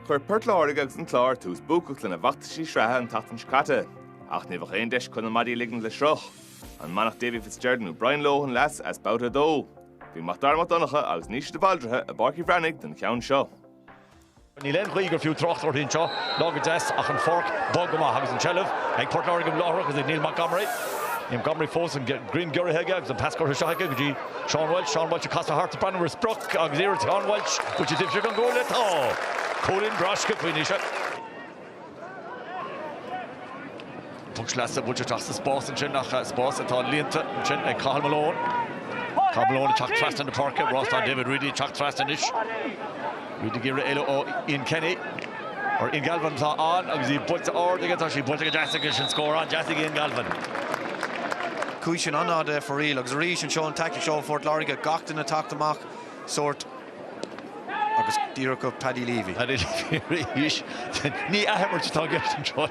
Chuir Port Láirge agus an Clár tús buacach lena bhfeachtaisí sraithe an tseachtain seo caite, ach ní bheadh aon deis chun a maidí a ligint le sruth. An mbainfeadh Davy Fitzgerald nó Brian Lohan leas as Babhta 2? Bhí MacDara Mac Donncha agus Naoise de Bhaldraithe i bPáirc Uí Bhreathnaigh don cheann seo. Níl aon ghaoth gur fiú trácht uirthi anseo, lá go deas ach an pháirc bog go maith agus an tseilbh ag Port Láirge láithreach agus ag Neil Montgomery. Neil Montgomery fós, an greim giorraithe aige agus an pas curtha isteach aige go dtí Seán Walsh, Seán Walsh ag casadh thart ag breathnú ar sprioc agus éireoidh le Seán Walsh taobh istigh den gcuaille. Tá cúilín breá sciobtha anois. Puc sleasa buailte isteach sa spás ansin ach spás atá líonta ansin ag Cathal Malone. Cathal Malone ag teacht trasna na páirce, Rás ann, David Reidy ag teacht trasna anois. Reidy ag iarraidh éalú ó Ian Kenny. Nó Ian Galvin atá ann agus í buailte ard aige, tá sí buailte go deas aige. Sin scór an-deas ag Ian Galvin. Chuaigh sin an-fhada ar foraíl agus arís anseo an taictic seo ó Phort Láirge. Gach duine teacht amach sórt agus díreach go Paddy Leavey. Paddy Leavey arís. Ní athimirt atá i gceist anseo.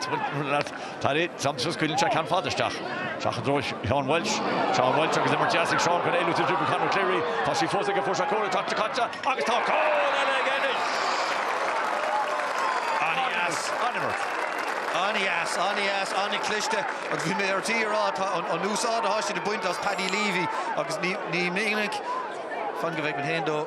Tar éis tiomsú, scaoileann sé ceann fada isteach. Isteach i dtreo Sheán Welsh. Seán Welsh agus imirt dheas ag Seán chun éalú de dhrioball Conor Cleary. Tá sí fós aige, fós, an scór atá caite agus tá scór eile aige anois! An-dheas, an-imirt. An-dheas, an-dheas, an-chliste agus bhí mé ar tí a rá an úsáid atá siad ag baint as Paddy Leavey agus ní minic, fan go bhfeicfinn féin dó,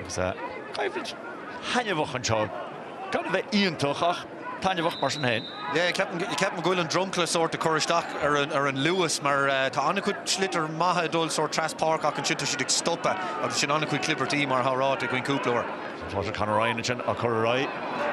Agus coimhlint thaitneamhach anseo. Gan a bheith iontach, ach taitneamhach mar sin féin. Yeah, ceapaim go bhfuil an dromchla sórt ag cur isteach ar an luas mar tá an-chuid sliotair maithe ag dul sórt trasna páirc ach ansin tá siad ag stopadh agus sin an-chuid clibirtí mar atá ráite againn cúpla uair. Tá Pádraic Conor Ryan ansin á cur ar aghaidh.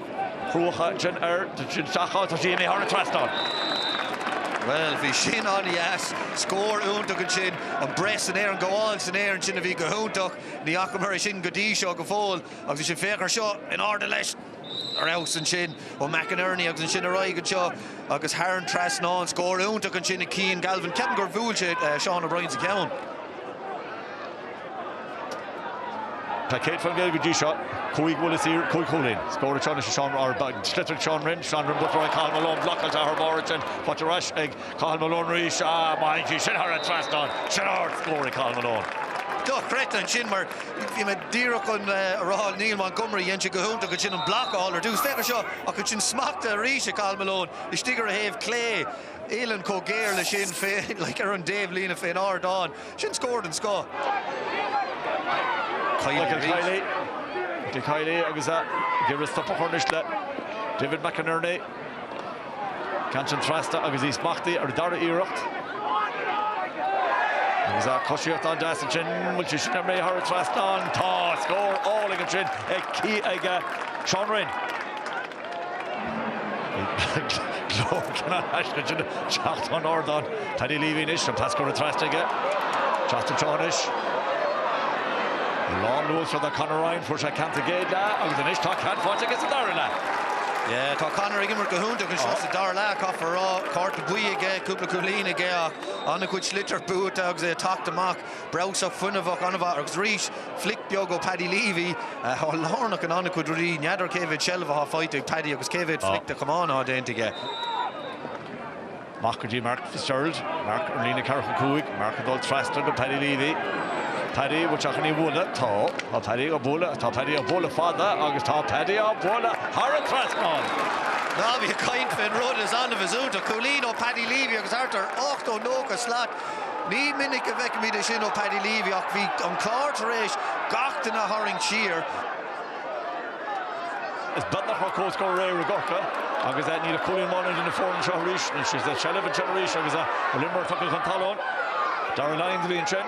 Cruacha sin ach sin seachad tá sí imithe thar an trasnán. Bhuel, bhí sin an-deas. Scór iontach ansin. An bhreith san aer, an ghabháil san aer ansin a bhí go hiontach. Ní fhacamar é sin go dtí seo go fóill. Agus ansin féach ar seo, in airde leis. Ar fheabhas ansin ó McInerney agus ansin ar aghaidh anseo agus thar an trasnán. Scór iontach ansin ag Cian Galvin. Ceapaim gur bhuail sé Seán O'Brien sa cheann. Tá céad faoin gcéad go dtí seo, cúig bhuille saor, cúig chúilín. Scór. Seán, Seán ar an sliotar Seán Rinn, Seán Rinn buaite ag Cathal Malone, blocáil athuair air ansin, faighte ar ais ag Cathal Malone arís, ah má fhaigheann sí sin thar an trasnán, sin ard-scór ag Cathal Malone. Dochreidte ansin mar bhí mé díreach chun a rá Neil Montgomery, dhein sé go hiontach ansin an bloc a fháil ar dtús, féach ar seo, ach ansin smachta arís ag Cathal Malone, istigh ar a thaobh clé, uillinn chomh géar leis sin ar an dtaobh líne fén ardán. Sin scór den scoth. Michael Kiely, Michael Kiely agus ag iarraidh stop a chur anois le David McInerney. Ceann sin trasna agus í smachtaithe ar an dara iarracht. Agus a coisíocht an-deas ansin, bhfuil sé sin imithe thar an trasnán? Tá! Scór álainn ansin ag Sean Rynne. Glór anois ag teacht ón ardán. Paddy Leavy anois, an pas curtha trasna aige. Teacht anseo anois. Lán luachra do Conor Ryan, fuair sé ceann sa gcéad leath agus anois tá ceann faighte aige sa dara leath. Yeah, tá Conor ag imirt go hiontach anseo sa dara leath, caithfear a rá. Cárta buí aige, cúpla cúilín aige ach an-chuid sliotar buaite agus é ag teacht amach. Breabhsach fuinneamhach an-mhaith agus arís, flick beag ó Paddy Leavey, atá lárnach in an-chuid rudaí. N'fheadar cé mhéad seilbh atá faighte ag Paddy agus cé mhéad flick de chamán atá déanta aige. Amach go dtí Mark Fitzgerald, Mark ar líne 45, Mark ag dul trasna go Paddy Leavey. Paddy bhfuil sé chun í bhualadh? Tá. Tá Paddy á bhualadh, tá Paddy á bhualadh fada agus tá Paddy á bhualadh thar an trasnán! Ná bí ag caint faoin rud is annamh is iontach, cúilín ó Paddy Leavey agus thart ar 80, 90 slat Ní minic a bhfeicimid é sin ó Paddy Leavy ach bhí an Clár tar éis gach duine a tharraingt siar. Is beagnach mar comhscór réidh i gCorca agus níl ach cúilín amháin idir na foirne seo arís. Is seilbh anseo arís agus imreoir tugtha chun talún. Darragh Lyons a bhí ansin.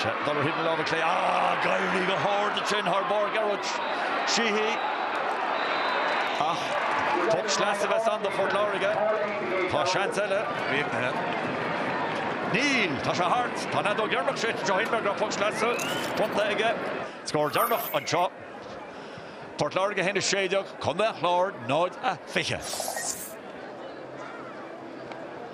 Darragh ar thaobh na láimhe clé ah, d'éirigh go hard ansin thar barr Ghearóid Sheehy ach poc sleasa a bheas ann do Phort Láirge. Tá seans eile réiteoir. Níl, tá sé thart. Tá an fheadóg dheireanach séidte, shíl mé go raibh poc sleasa bronnta aige. Scór deireanach anseo, Port Láirge 1, 16, Contae an Chláir 0, 20.